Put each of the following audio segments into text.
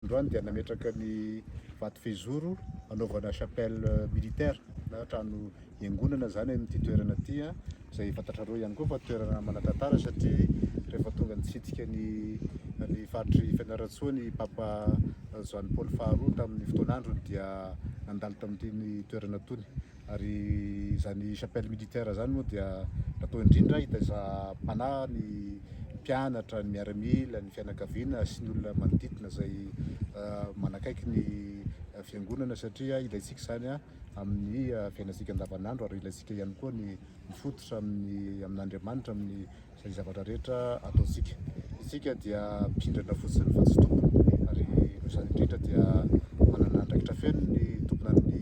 Androany dia nametraka ny vato fehizoro hanaovana chapelle militaire na trano hiangonana izany amin'ity toerana ity, izay fantatrareo ihany koa fa toerana manan-tantara satria rehefa tonga nitsidika ny ny faritry Fianarantsoa ny Papa Joany Paoly faharoa tamin'ny fotoan'androny dia nandalo tamin'itony toerana itony. Ary izany chapelle militaire izany moa dia natao indrindra hitaiza panahy ny mpianatra, ny miaramila, ny fianakaviana sy ny olona manodidina izay manakaiky ny fiangonana satria ilaintsika izany amin'ny fiainantsika andavanandro ary ilaintsika ihany koa ny mifototra amin'ny amin'Andriamanitra amin'ny izay zavatra rehetra ataontsika. Isika dia mpindrana fotsiny fa tsy tompony, ary noho izany indrindra dia manana andraikitra feno ny tomponan'ny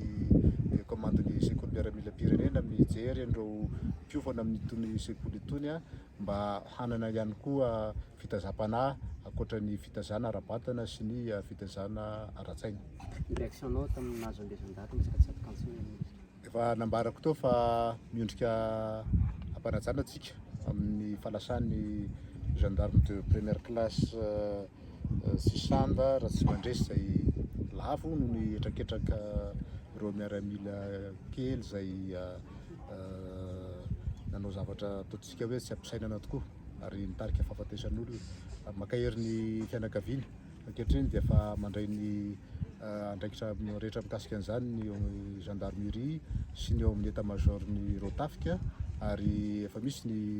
kaomandin'ny sekoly miaramilam-pirenena amin'ny hijery an'ireo mpiofana amin'itony sekoly itony mba hanana ihany koa fitazam-panahy ankoatra ny fitazana ara-batana sy ny fitazana ara-tsaina. Ny réaction-nao tamin'ny nahazo ambeson-daty ny tsakatsak'Antsinanana? Efa nambarako teo fa miondrika am-panajana antsika amin'ny falasan'ny gendarme de première classe Sisanda Ratsimandresy izay lavo noho ny hetraketraka ireo miaramila kely izay nanao zavatra ataontsika hoe tsy ampisainana tokoa ary nitarika fahafatesan'olona. Mankahery ny fianakaviana. Ankehitriny dia efa mandray ny andraikitra rehetra mikasika an'izany ny gendarmerie sy ny ao amin'ny état major-n'ny rotafika ary efa misy ny